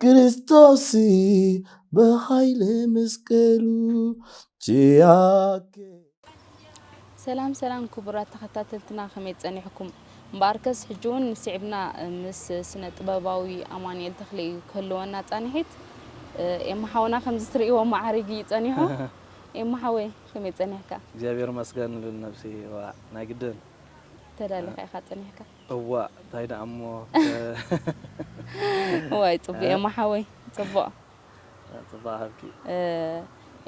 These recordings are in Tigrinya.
ክርስቶስ ብሃይሊ መስቀሉ ቺያኬ ሰላም ሰላም ክቡራት ተኸታተልትና ከመይ ጸኒሕኩም? እምበኣርከስ ሕጂ እውን ስዒብና ምስ ስነ ጥበባዊ ኣማኑኤል ተኽለ እዩ ክህልወና ጻንሒት። ኤማ ሓውና ከምዚ ትርእይዎ መዓሪግ እዩ ጸኒሑ። ኤማ ሓወይ ከመይ ጸኒሕካ? እግዚኣብሔር ይመስገን ሉል ነብሲ ዋእ ናይ ግድን። ተዳሊኻ ኢኻ ጸኒሕካ። እዋእ ታይ ደኣ እሞ ዋይ ጽቡቅ ኤማ ሓወይ ጽቡቅ ጽባሕ ሃብኪ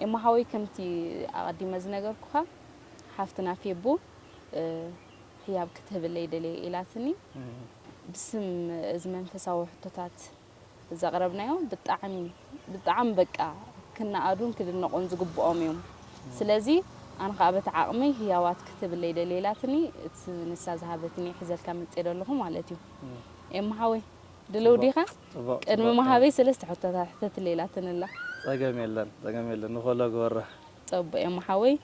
ኤማ ሓወይ ከምቲ ኣቀዲመ ዝነገርኩካ ሓፍትና ፌቡ ህያብ ክትህብለይ ደልየ ኢላትኒ ብስም እዚ መንፈሳዊ ሕቶታት ዘቅረብናዮ ብጣዕሚ ብጣዕሚ በቃ ክናኣዱን ክድነቁን ዝግብኦም እዮም ስለዚ ኣነ ካኣ በቲ ዓቅመይ ህያዋት ክትብለይ ደልየ ኢላትኒ እቲ ንሳ ዝሃበትኒ ሒዘልካ መጽየ ደለኩ ማለት እዩ ኤማ ሓወይ ድልው ዲካ ቅድሚ ምሃበይ ሰለስተ ሕቶታት ሕተትለይ ኢላትኒ ኣላ ጸገም የለን ጸገም የለን ንኮሎ ግበራ። ጸቡቅ እሞ ሓወይ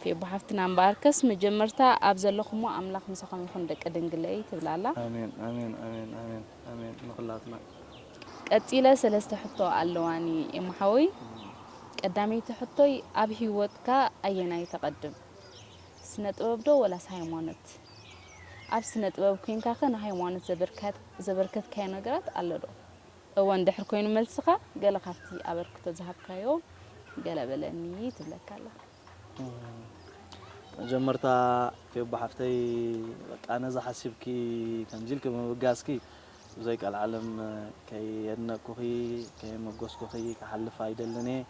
ፌቡ ሓፍትና እምበኣርከስ መጀመርታ ኣብ ዘለኹሞ ኣምላኽ ምሳኹም ይኹን ደቂ ድንግለይ ትብል ኣላ። ኣሜን ኣሜን ኣሜን ኣሜን ኣሜን ንኹላትና። ቀጺለ ሰለስተ ሕቶ ኣለዋኒ እሞ ሓወይ ቀዳመይቲ ሕቶይ ኣብ ሂወትካ ኣየናይ ተቀድም ስነ ጥበብ ዶ ወላስ ሃይማኖት? ኣብ ስነ ጥበብ ኮንካኸ ንሃይማኖት ዘበርከትካዮ ነገራት ኣሎ ዶ? እወ እንድሕር ኮይኑ መልስኻ ገለ ካብቲ ኣበርክቶ ዝሃብካዮ ገለ በለኒ ትብለካ ኣላ። መጀመርታ ፌቡ ሓፍተይ በቃ ነዚ ሓሲብኪ ከምዚ ኢልኪ ብምብጋስኪ ብዘይ ቀልዓለም ከየድነቅኩኺ ከየመጎስኩኺ ክሓልፍ ኣይደልን እየ።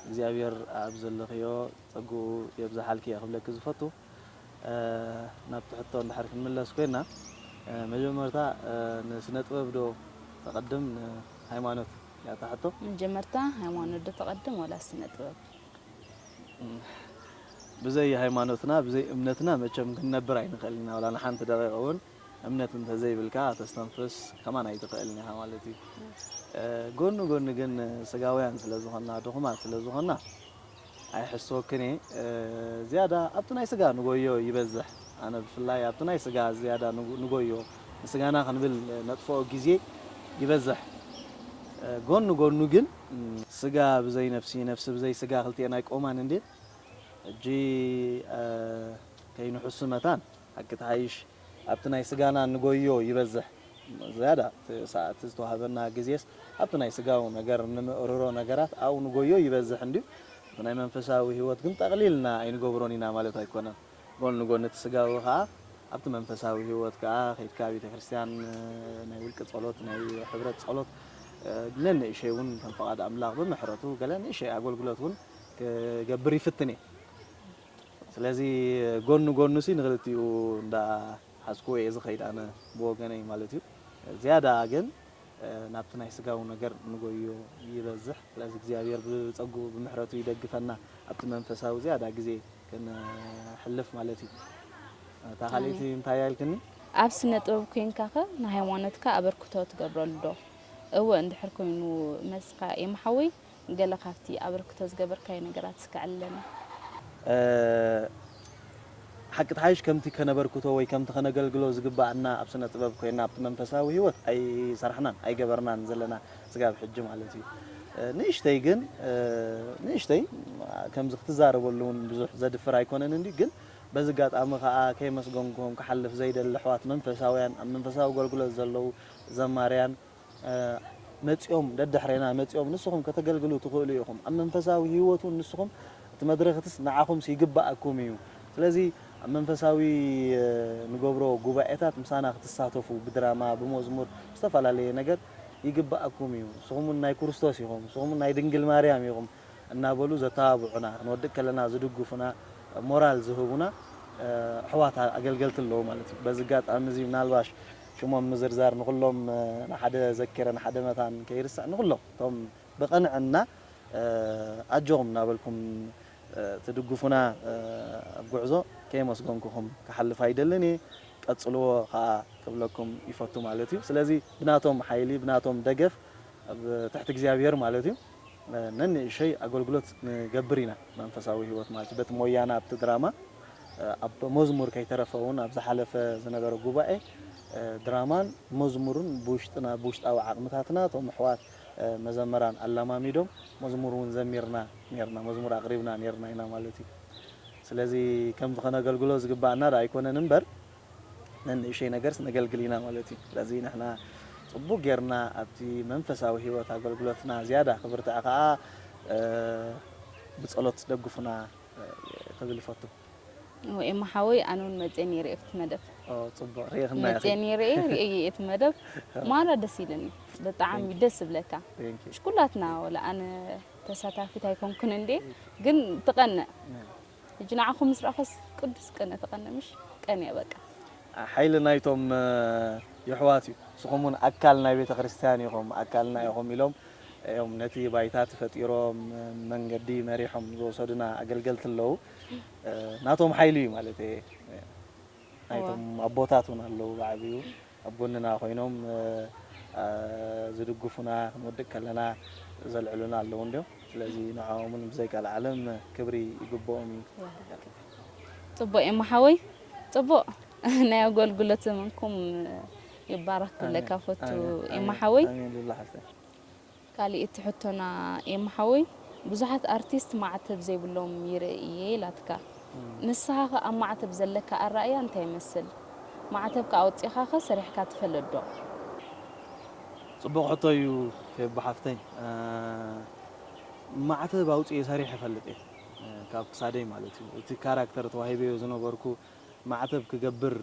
እግዚኣብሄር ኣብ ዘለኽዮ ጸግኡ የብዝሓልኪ እየ ክብለኪ ዝፈቱ። ናብቲ ሕቶ እንድሕር ክንምለስ ኮይና መጀመርታ ንስነ ጥበብ ዶ ተቐድም ንሃይማኖት እያ እታ ሕቶ? መጀመርታ ሃይማኖት ዶ ተቐድም ዋላስ ስነ ጥበብ? ብዘይ ሃይማኖትና ብዘይ እምነትና መቸም ክንነብር ኣይንኽእልን ኢና ዋላ ንሓንቲ ደቒቕ እውን እምነት እንተዘይብልካ ከተስተንፍስ ከማን ኣይትኽእልን ኢኻ ማለት እዩ። ጎኒ ጎኒ ግን ስጋውያን ስለዝኾንና ድኹማት ስለዝኾንና ኣይሕስወክን እየ ዝያዳ ኣብቲ ናይ ስጋ ንጎዮ ይበዝሕ ኣነ ብፍላይ ኣብቲ ናይ ስጋ ዝያዳ ንጎዮ ንስጋና ክንብል ነጥፍኦ ግዜ ይበዝሕ ጎን ንጎኑ ግን ስጋ ብዘይ ነፍሲ ነፍሲ ብዘይ ስጋ ክልቲኤን ኣይቆማን እንድየን ሕጂ ከይንሕሱ መታን። ሓቂ ትሓይሽ ኣብቲ ናይ ስጋና ንጎዮ ይበዝሕ ዝያዳ እቲ ሰዓት ዝተዋህበና ግዜስ ኣብቲ ናይ ስጋዊ ነገር እንምእርሮ ነገራት ኣብኡ ንጎዮ ይበዝሕ እንድዩ እቲ ናይ መንፈሳዊ ህይወት ግን ጠቅሊልና ኣይንገብሮን ኢና ማለት ኣይኮነን ጎን ንጎን እቲ ስጋዊ ከኣ ኣብቲ መንፈሳዊ ህይወት ከኣ ከይድካ ቤተክርስትያን ናይ ውልቂ ጸሎት ናይ ሕብረት ጸሎት ነንእሽይ ውን ከም ፍቃድ ኣምላኽ ብምሕረቱ ገለ ንእሽይ ኣጎልግሎት ውን ክገብር ይፍትን እየ ስለዚ ጎን ንጎኑሲ ንክልቲኡ እንዳ ሓዝኩዎ እየ ዝከይድ ኣነ ብወገነይ ማለት እዩ ዝያዳ ግን ናብቲ ናይ ስጋዊ ነገር ንጎዮ ይበዝሕ ስለዚ እግዚኣብሔር ብጸጉኡ ብምሕረቱ ይደግፈና ኣብቲ መንፈሳዊ ዝያዳ ግዜ ክንሕልፍ ማለት እዩ እታ ካልእቲ ኣሜን እንታይ እያ ኢልክኒ ኣብ ስነ ጥበብ ኮይንካኸ ንሃይማኖትካ ኣበርክቶ ትገብረሉ ዶ? እወ እንድሕር ኮይኑ መልስካ ኤማ ሓወይ ገለ ካብቲ ኣበርክቶ ዝገበርካዮ ነገራት እስከ ኣዕልለና። ሓቂ ትሓይሽ ከምቲ ከነበርክቶ ወይ ከምቲ ከነገልግሎ ዝግበኣና ኣብ ስነ ጥበብ ኮይና ኣብቲ መንፈሳዊ ሂወት ኣይሰራሕናን ኣይገበርናን ዘለና ስጋብ ሕጂ ማለት እዩ ንእሽተይ ግን ንእሽተይ ከምዚ ክትዛረበሉ ውን ብዙሕ ዘድፍር ኣይኮነን እንዲ ግን በዚ ኣጋጣሚ ከኣ ከይመስገንኩም ክሓልፍ ዘይደሊ ኣሕዋት መንፈሳውያን ኣብ መንፈሳዊ ኣገልግሎት ዘለዉ ዘማርያን መጺኦም ደድሕሬና መጺኦም ንስኹም ከተገልግሉ ትኽእሉ ኢኹም ኣብ መንፈሳዊ ህይወት ውን ንስኹም እቲ መድረኽትስ ንዓኹምስ ይግባኣኩም እዩ ስለዚ ኣብ መንፈሳዊ ንገብሮ ጉባኤታት ምሳና ክትሳተፉ ብድራማ ብመዝሙር ብዝተፈላለየ ነገር ይግባኣኩም እዩ ንስኹም ውን ናይ ኩርስቶስ ኢኹም ንስኹም ውን ናይ ድንግል ማርያም ኢኹም እናበሉ ዘተባብዑና ክንወድቅ ከለና ዝድግፉና ሞራል ዝህቡና ኣሕዋት ኣገልገልቲ ኣለዉ ማለት እዩ በዚ ኣጋጣሚ እዚ ምናልባሽ ሽሞም ምዝርዛር ንኹሎም ንሓደ ዘኪረ ንሓደ መታን ከይርስዕ ንኹሎም እቶም ብቕንዕና ኣጆኹም እናበልኩም ትድግፉና ኣብ ጉዕዞ ከየመስገንኩኹም ክሓልፍ ኣይደልን እየ። ቀጽልዎ ከኣ ክብለኩም ይፈቱ ማለት እዩ። ስለዚ ብናቶም ሓይሊ ብናቶም ደገፍ ኣብ ትሕቲ እግዚኣብሄር ማለት እዩ። ነንእሸይ ኣገልግሎት ንገብር ኢና መንፈሳዊ ሕይወት ማለት እዩ በቲ ሞያና ኣብቲ ድራማ ኣብ መዝሙር ከይተረፈ እውን ኣብ ዝሓለፈ ዝነበረ ጉባኤ ድራማን መዝሙርን ብውሽጥና ብውሽጣዊ ዓቕምታትና እቶም ኣሕዋት መዘምራን ኣላማሚዶም መዝሙር እውን ዘሚርና ኔርና መዝሙር ኣቕሪብና ኔርና ኢና ማለት እዩ ስለዚ ከምዚ ከነገልግሎ ዝግባኣና ዶ ኣይኮነን እምበር ነንእሽተይ ነገርስ ነገልግል ኢና ማለት እዩ። ስለዚ ንሕና ጽቡቕ ጌርና ኣብቲ መንፈሳዊ ህይወት ኣገልግሎትና ዝያዳ ክብርትዕ ከኣ ብጸሎት ደግፉና ክብል ይፈቱ። እሞ ኤማ ሓወይ ኣነ ውን መጽየ ኔረ ኣብቲ መደብ። ኦ ጽቡቅ ሪኢክና ኢኪ። መጽየ ኔረ ኢየ ሪኤዮ ኢየ እቲ መደብ ማራ ደስ ኢልኒ ብጣዓሚ ደስ ዝብለካ ምሽ ኩላትና ወላ ኣነ ተሳታፊት ኣይኮንኩን እንዴ ግን ትቀንእ ሕጂ ንዓኹም ምስ ረኣኹስ ቅዱስ ቅነ ተቐነ ምሽ ቀንየ በቃ። ሓይሊ ናይቶም የሕዋት እዩ ንስኹም ውን ኣካል ናይ ቤተክርስትያን ኢኹም ኣካልና ኢኹም ኢሎም እዮም ነቲ ባይታ ተፈጢሮም መንገዲ መሪሖም ዝወሰዱና ኣገልገልቲ ኣለዉ ናቶም ሓይሊ እዩ ማለተይ እየ። ናይቶም ኣቦታት ውን ኣለዉ ብዓቢኡ ኣብ ጎንና ኮይኖም ዝድግፉና ክንወድቅ ከለና ዘልዕሉና ኣለዉ እንድዮም ስለዚ ንዖኦም ውን ብዘይ ቀልዓለም ክብሪ ይግብኦም እዩ። ጽቡቅ ኤማ ሓወይ ጽቡቅ ናይ ኣጎልጉሎት ዘመንኩም ይባረክ ክብለካ ፈቱ ኤማ ሓወይ። ኣሜን ሉላ ሓፍተይ። ካሊእቲ ሕቶና ኤማ ሓወይ ብዙሓት ኣርቲስት ማዕተብ ዘይብሎም ይርኢ እየ ኢላትካ ንስኻ ከ ኣብ ማዕተብ ዘለካ ኣራእያ እንታይ ይመስል ማዕተብካ ኣውጺኻ ከ ሰሪሕካ ትፈልጥ ዶ? ጽቡቅ ሕቶ እዩ ፌቡ ሓፍተይ ማዕተብ ኣውጺኤ ሰሪሐ እፈልጥ እየ ካብ ክሳደይ ማለት እዩ እቲ ካራክተር ተዋሂበዮ ዝነበርኩ ማዕተብ ክገብር።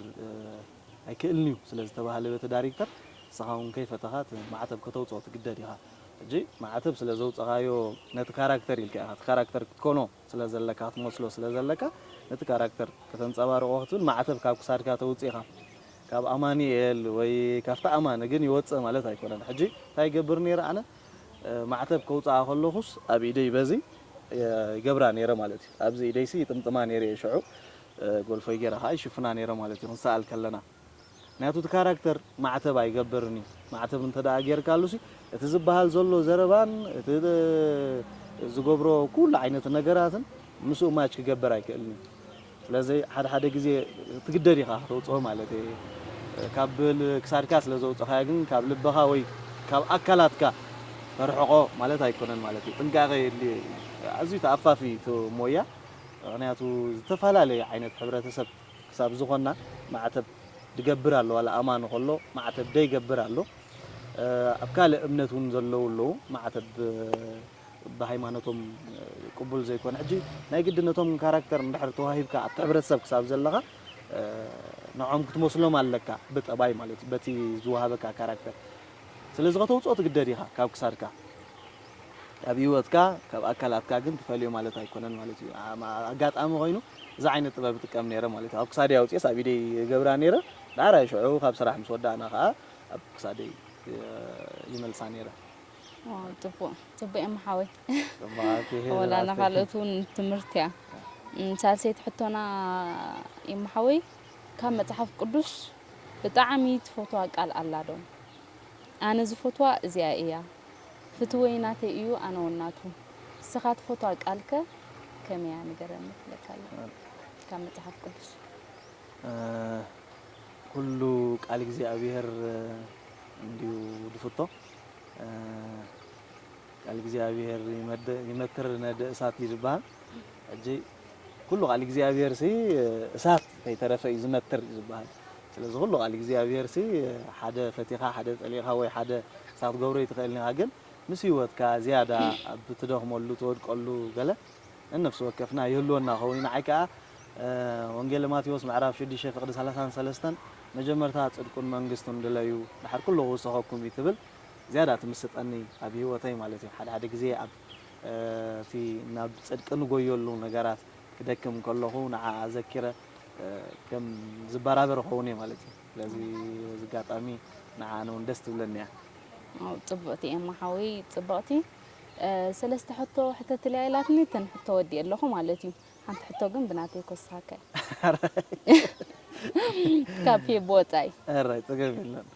ኣይክእልን'ዩ ስለ ዝተባህለ በቲ ዳሪክተር፣ ንስኻ'ውን ከይፈተኻ እቲ ማዕተብ ከተውጽኦ ትግደድ ኢኻ። ሕጂ ማዕተብ ስለ ዘውጸኻዮ ነቲ ካራክተር ኢልካ ኢኻ፣ እቲ ካራክተር ክትኮኖ ስለ ዘለካ፣ ክትመስሎ ስለ ዘለካ፣ ነቲ ካራክተር ከተንጸባርቖ ክትብል ማዕተብ ካብ ክሳድካ ተውጺእኻ። ካብ ኣማኒኤል ወይ ካብቲ ኣማኒ ግን ይወጽእ ማለት ኣይኮነን። ሕጂ እንታይ ይገብር ነይረ ኣነ? ማዕተብ ከውጽኣ ከለኹስ ኣብ ኢደይ በዚ ይገብራ ነይረ ማለት'ዩ። ኣብዚ ኢደይሲ ይጥምጥማ ነይረ'የ ሽዑ። ጎልፎይ ጌራ ከኣ ይሽፍና ኔረ ማለት እዩ ክንሰኣል ከለና ምክንያቱ እቲ ካራክተር ማዕተብ ኣይገብርን እዩ ማዕተብ እንተ ጌርካሉ ሲ እቲ ዝበሃል ዘሎ ዘረባን እቲ ዝገብሮ ኩሉ ዓይነት ነገራትን ምስኡ ማች ክገብር ኣይክእልን እዩ ስለዚ ሓደ ሓደ ግዜ ትግደድ ኢኻ ከተውጽኦ ማለት እየ ካብ ክሳድካ ስለ ዘውጽኻዮ ግን ካብ ልብኻ ወይ ካብ ኣካላትካ ተርሕቆ ማለት ኣይኮነን ማለት እዩ ጥንቃቄ የድልዮ እዩ ኣዝዩ ተኣፋፊ እዩ እቲ ሞያ መቅንያቱ ዝተፈላለየ ዓይነት ሕብረተሰብ ክሳብ ዝኮና ማዕተብ ድገብር ኣሎ ዋላ ኣማኒ ከሎ ማዕተብ ደይገብር ኣሎ ኣብ ካልእ እምነት ውን ዘለዉ ኣለዉ ማዕተብ ብሃይማኖቶም ቅቡል ዘይኮነ ሕጂ ናይ ግድን ነቶም ካራክተር እንድሕር ተዋሂብካ ኣብቲ ሕብረተሰብ ክሳብ ዘለካ ንዖም ክትመስሎም ኣለካ ብጠባይ ማለት እዩ በቲ ዝወሃበካ ካራክተር ስለዚ ከተውጽኦ ትግደድ ኢካ ካብ ክሳድካ ካብ ሂወትካ ካብ ኣካላትካ ግን ትፈልዮ ማለት ኣይኮነን ማለት እዩ ኣጋጣሚ ኮይኑ እዚ ዓይነት ጥበብ ይጥቀም ነይረ ማለት እዩ ኣብ ክሳደይ ኣውፅኤስ ኣብ ኢደይ ይገብራ ነይረ ዳሕራይ ሽዑ ካብ ስራሕ ምስ ወዳእና ከዓ ኣብ ክሳደይ ይመልሳ ነይረ ፅቡቅ ፅቡቅ እዮም ሓወይ ወላ ንካልኦት እውን ትምህርቲ እያ ሳልሰይቲ ሕቶና እዮም ሓወይ ካብ መፅሓፍ ቅዱስ ብጣዕሚ ትፈትዋ ቃል ኣላ ዶ ኣነ ዝፈትዋ እዚኣ እያ ፍትወይ ናተይ እዩ ኣነ ውን ናቱ ንስኻ ትፈትዋ ቃል ከ ከመይ እያ ንገረኒ ትብለካ ኣሎ ካብ መጽሓፍ ቅዱስ። ኩሉ ቃል እግዚኣብሔር እንድዩ ዝፍቶ ቃል እግዚኣብሔር ይመክር ነደ እሳት እዩ ዝብሃል ሕጂ ኩሉ ቃል እግዚኣብሔር ሲ እሳት ከይተረፈ እዩ ዝመክር እዩ ዝብሃል ስለዚ ኩሉ ቃል እግዚኣብሄርሲ ሓደ ፈቲኻ ሓደ ጸሊእኻ ወይ ሓደ ንስኻ ክትገብሮ ኣይትኽእልን ኢኻ ግን ምስ ሂወትካ ዝያዳ ኣብ ትደኽመሉ ትወድቀሉ ገለ ነነፍሲ ወከፍና ይህልወና ክኸውን እዩ ንዓይ ከኣ ወንጌለ ማቴዎስ ምዕራፍ ሽዱሽተ ፍቅዲ ሰላሳን ሰለስተን መጀመርታ ጽድቁን መንግስቱን ድለዩ ድሓር ኩሉ ክውሰኸኩም እዩ ትብል ዝያዳ ትምስጠኒ ኣብ ሂወተይ ማለት እዩ ሓደ ሓደ ግዜ ኣብ እቲ ናብ ጽድቂ ንጎየሉ ነገራት ክደክም ከለኹ ንዓኣ ኣዘኪረ ከም ዝበራበር ኸውን እየ ማለት እዩ ስለዚ በዚ ኣጋጣሚ ንዓ ኣነ እውን ደስ ትብለኒ እያ ፅብቕቲ ኤማ ሓወይ ፅብቕቲ ሰለስተ ሕቶ ሕተትልያ ኢላትኒ እተን ሕቶ ወዲእ ኣለኹ ማለት እዩ ሓንቲ ሕቶ ግን ብናተይ ኮስኻካ ካብ ፌብ ወፃኢ እራይ ፀገም የለን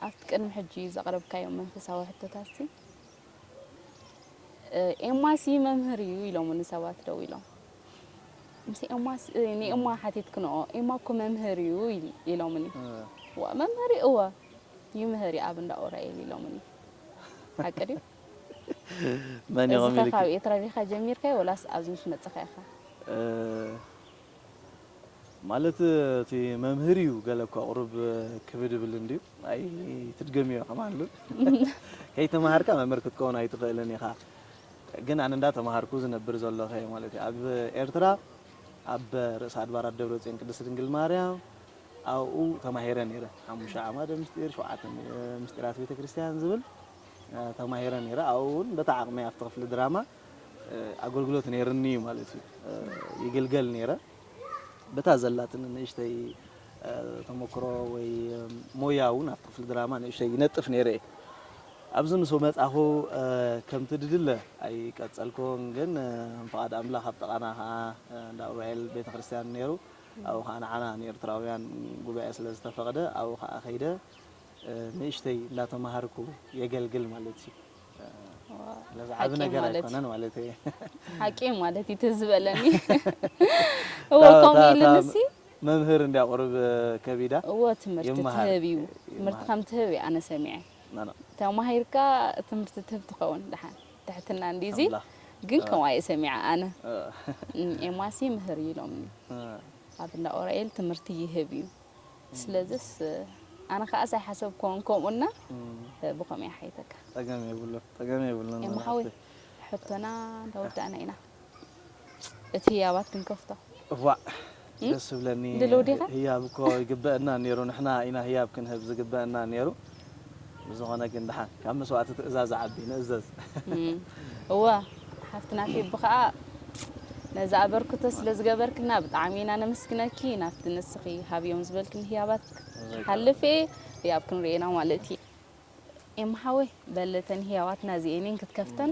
ኣብቲ ቅድሚ ሕጂ ዘቕረብካዮም መንፈሳዊ ሕቶታትሲ ኤማሲ መምህር እዩ ኢሎሙኒ ሰባት ደው ኢሎም ምስ ኤማስ ንኤማ ሓቲትክንኦ ኤማ እኮ መምህር እዩ ኢሎምኒ መምህር እዩ እወ ይምህር ኣብ እንዳ ኡራኤል ኢሎምኒ ሓቂ ድዩ መን ኢሎም ኢልካ ካብ ኤትራቢኻ ጀሚርካዮ ወላስ ኣብዚ ምስ መጽኻ ኢኻ ማለት እቲ መምህር እዩ ገለ እኳ ቁሩብ ክብድ ይብል እንድዩ ኣይትድገምዮ ከማን ከይተማሃርካ መምህር ክትከውን ኣይትኽእልን ኢኻ ግን ኣነ እንዳ ተማሃርኩ ዝነብር ዘለኹ እየ ማለት እዩ ኣብ ኤርትራ ኣብ ርእሰ ኣድባራት ደብረጽዮን ቅድስት ድንግል ማርያም ኣብኡ ተማሂረ ነይረ ሓሙሽተ ዓማደ ምስጢር ሸውዓተ ምስጢራት ቤተ ክርስቲያን ዝብል ተማሂረ ነይረ ኣብኡ እውን በታ ዓቕመይ ኣብቲ ክፍሊ ድራማ ኣገልግሎት ነይርኒ እዩ ማለት እዩ ይግልገል ነይረ በታ ዘላትኒ ንእሽተይ ተሞክሮ ወይ ሞያ እውን ኣብ ክፍሊ ድራማ ንእሽተይ ይነጥፍ ነይረ እየ ኣብዚ ምስ መጻኹ ከምቲ ድድለ ኣይቀጸልኩን ግን ፍቓድ ኣምላኽ ኣብ ጥቓና ከዓ እንዳ ኡራኤል ቤተ ክርስቲያን ነይሩ ኣብኡ ከዓ ንዓና ንኤርትራውያን ጉባኤ ስለ ዝተፈቕደ ኣብኡ ከዓ ከይደ ንእሽተይ እንዳተማሃርኩ የገልግል ማለት እዩ ዓቢ ነገር ኣይኮነን ማለት እዩ ሓቂ ማለት እዩ ትዝ በለኒ እወ ከምኡ ኢልንሲ መምህር እንዲያ ቁርብ ከቢዳ እወ ትምህርቲ ትህብ እዩ ትምህርቲ ከም ትህብ እዩ ኣነ ሰሚዐ ተማሂርካ ትምህርቲ ትህብ ትኸውን ድሓን ትሕትና እንዲዚ ግን ከምኡ ኣየ ሰሚዐ ኣነ ኤማሲ ምህር እዩ ኢሎምኒ ኣብ እንዳ ኦራኤል ትምህርቲ ይህብ እዩ ስለዚስ ኣነ ከኣ ዘይሓሰብክዎን ከምኡ እና ብከምኡ እየ ሓይተካ። ጸገም የብሉን ጸገም የብሉን። ኤማ ሓወይ ሕቶና እንዳ ወዳእና ኢና እቲ ህያባት ክንከፍቶ። እዋእ ደስ ዝብለኒ ህያብ እኮ ይግበኣና ኔሩ ንሕና ኢና ህያብ ክንህብ ዝግበኣና ኔሩ። ብዝኾነ ግን ድሓን ካብ መስዋእቲ ትእዛዝ ዓቢ ንእዘዝ። እወ ሓፍትና ፌቢ ከኣ ነዚ ኣበርክቶ ስለ ዝገበርክልና ብጣዕሚ ኢና ነመስግነኪ ናብቲ ንስኺ ሃብዮም ዝበልክኒ ህያባት ሓልፌ ህያብ ክንሪኦ ኢና ማለት እዩ ኤማ ሓወይ በል እተን ህያባትና እዚኤን እየን ክትከፍተን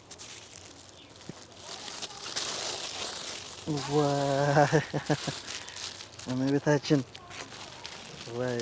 እመቤታችን ወይ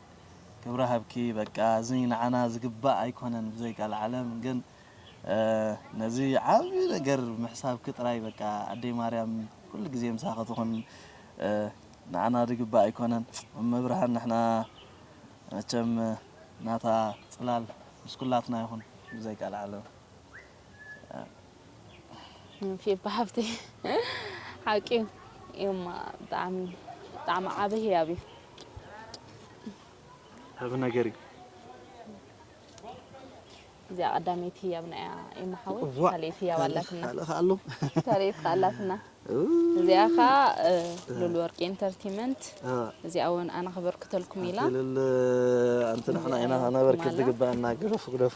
ክብሪ ሃብኪ በቃ እዚ ንዓና ዝግባእ ኣይኮነን ብዘይ ቃልዓለም ግን ነዚ ዓቢ ነገር ምሕሳብኪ ጥራይ በቃ ኣደይ ማርያም ኩሉ ግዜ ምሳኺ ትኹን ንዓና ዝግባእ ኣይኮነን እመብርሃን ንሕና መቸም ናታ ጽላል ምስ ኩላትና ይኹን ብዘይ ቃልዓለም ፊባ ሓፍተይ ሓቂ እዩማ ብጣዕሚ ብጣዕሚ ዓብ ህያብ እዩ ዓብ ነገር እዩ እዚኣ ቀዳመይቲ ህያብና እያ እማ ሓወይ ካልኤት ህያብ ኣላትና ካልኤት ከዓ ኣላትና እዚኣ ከዓ ሉል ወርቂ ኢንተርቴመንት እዚኣ እውን ኣነ ክበርክተልኩም ኢላ ንሕና ኢና ክነበርክት ዝግባኣና ግደፉ ግደፉ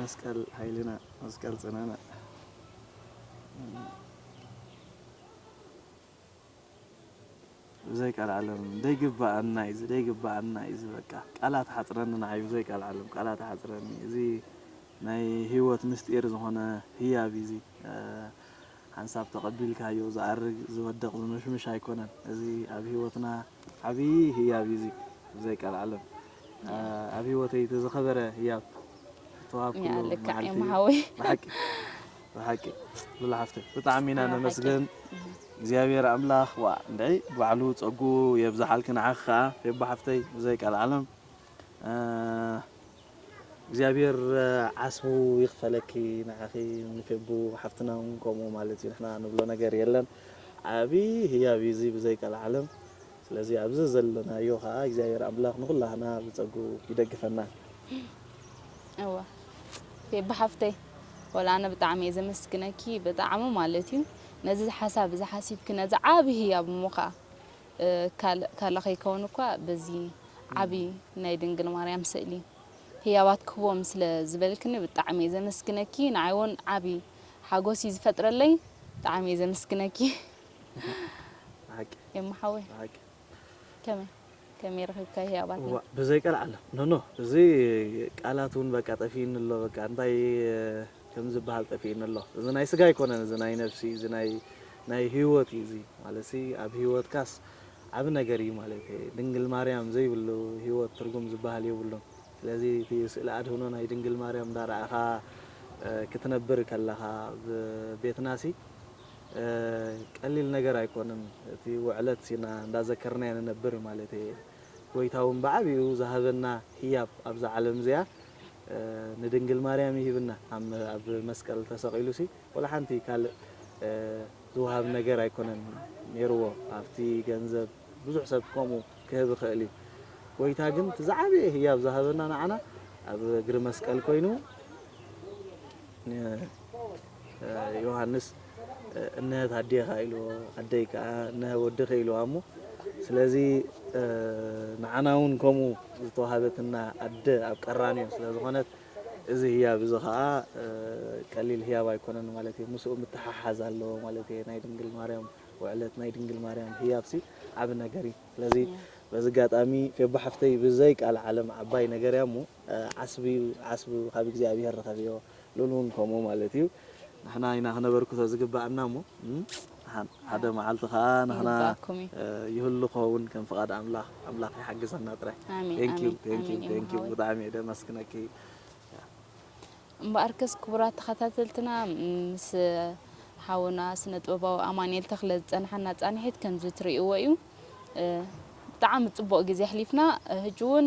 መስቀል ኃይልና መስቀል ጽናና። ብዘይ ቀልዓለም ደይግበኣና እዩ ደይግበኣና እዩ በቃ ቃላት ሓፅረኒ ንዓይ ብዘይ ቀልዓለም ቃላት ሓፅረኒ እዚ ናይ ሂወት ምስጢር ዝኾነ ህያብ እዩ እዚ ሓንሳብ ተቐቢልካዮ ዝኣርግ ዝወድቕ ዝምሽምሽ ኣይኮነን እዚ ኣብ ሂወትና ዓብይ ህያብ እዩ እዚ ብዘይ ቀልዓለም ኣብ ሂወተይ እቲ ዝኸበረ ህያብ ዝተዋሃብኩሉ መዓልቲ እዩ ብሓቂ ብሓቂ ሉላ ሓፍተይ ብጣዕሚ ኢና ነመስግን እግዚኣብሔር ኣምላኽ ዋእ እንድዒ ባዕሉ ፀጉኡ የብዝሓልኪ ንዓኺ ከዓ ፌቡ ሓፍተይ ብዘይ ቀልዓለም እግዚኣብሔር ዓስቡ ይክፈለኪ ንዓኺ ንፌቡ ሓፍትና ውን ከምኡ ማለት እዩ ንሕና ንብሎ ነገር የለን ዓቢ ህያብ እዩ እዚ ብዘይ ቀልዓለም ስለዚ ኣብዚ ዘለናዮ ከኣ እግዚኣብሔር ኣምላኽ ንኹላህና ብጸግኡ ይደግፈና። እወ ፌቡ ሓፍተይ ወላ ኣነ ብጣዕሚ እየ ዘመስግነኪ ብጣዕሚ ማለት እዩ ነዚ ሓሳብ እዚ ሓሲብኪ ነዚ ዓቢ ህያብ እሞ ከኣ ካልእ ካላ ከይከውን እኳ በዚ ዓቢ ናይ ድንግል ማርያም ስእሊ ህያባት ክህቦም ስለ ዝበልክኒ ብጣዕሚ እየ ዘመስግነኪ ንዓይ ውን ዓቢ ሓጎስ እዩ ዝፈጥረለይ ብጣዕሚ እየ ዘመስግነኪ ኤማ ሓወይ ከመይ ከመይ ረኺብካ ህያባት እዋ ብዘይ ቀልዓለም ኖኖ እዚ ቃላት እውን በቃ ጠፊኡኒ ኣሎ በቃ እንታይ ከም ዝበሃል ጠፊኡኒ ኣሎ እዚ ናይ ስጋ ኣይኮነን እዚ ናይ ነፍሲ እዚ ናይ ናይ ሂወት እዩ እዚ ማለትሲ ኣብ ሂወትካስ ዓቢ ነገር እዩ ማለተይ እየ ድንግል ማርያም ዘይብሉ ሂወት ትርጉም ዝብሃል የብሉን ስለዚ እቲ ስእሊ ኣድህኖ ናይ ድንግል ማርያም እንዳረኣኻ ክትነብር ከለኻ ኣብ ቤትናሲ ቀሊል ነገር ኣይኮንን እቲ ውዕለት ሲና እንዳዘከርናዮ ንነብር ማለተይ እየ ጎይታ ውን ብዓቢኡ ዝሃበና ህያብ ኣብዛ ዓለም እዚኣ ንድንግል ማርያም ይህብና ኣብ መስቀል ተሰቂሉሲ ወላ ሓንቲ ካልእ ዝወሃብ ነገር ኣይኮነን ኔርዎ ሃፍቲ ገንዘብ ብዙሕ ሰብ ከምኡ ክህብ ይኽእል እዩ ጎይታ ግን እቲ ዝዓበየ ህያብ ዝሃበና ንዓና ኣብ እግሪ መስቀል ኮይኑ ዮሃንስ እነሀት ኣዴኻ ኢልዎ ኣደይ ከዓ እነሀ ወድኺ ኢልዋ እሞ ስለዚ ንዓና እውን ከምኡ ዝተዋሃበትና ኣደ ኣብ ቀራንዮ ስለዝኾነት እዚ ህያብ እዚ ከኣ ቀሊል ህያብ ኣይኮነን ማለት እየ። ምስኡ ምትሕሓዝ ኣለዎ ማለት እየ። ናይ ድንግል ማርያም ውዕለት፣ ናይ ድንግል ማርያም ህያብሲ ዓቢ ነገር እዩ። ስለዚ በዚ ኣጋጣሚ ፌቡ ሓፍተይ ብዘይ ቃልዓለም ዓባይ ነገር እያ እሞ ዓስብዩ ዓስቡ ካብ እግዚኣብሄር ርኸብዮ፣ ሉል እውን ከምኡ ማለት እዩ። ንሕና ኢና ክነበርክቶ ዝግበኣና እሞ። ሓደ መዓልቲ ከኣ ንሕና ይህሉ ክኸውን ከም ፍቃድ ኣምላኽ ኣምላኽ ይሓግዘና ጥራይ ብጣዕሚ እየ ደመስግነኪ። እምበኣርከስ ክቡራት ተኸታተልትና ምስ ሓውና ስነ ጥበባዊ ኣማንኤል ተኽለ ዝጸንሓና ጻንሒት ከምዚ ትርእይዎ እዩ። ብጣዕሚ ጽቡቕ ግዜ ኣሕሊፍና ህጂ እውን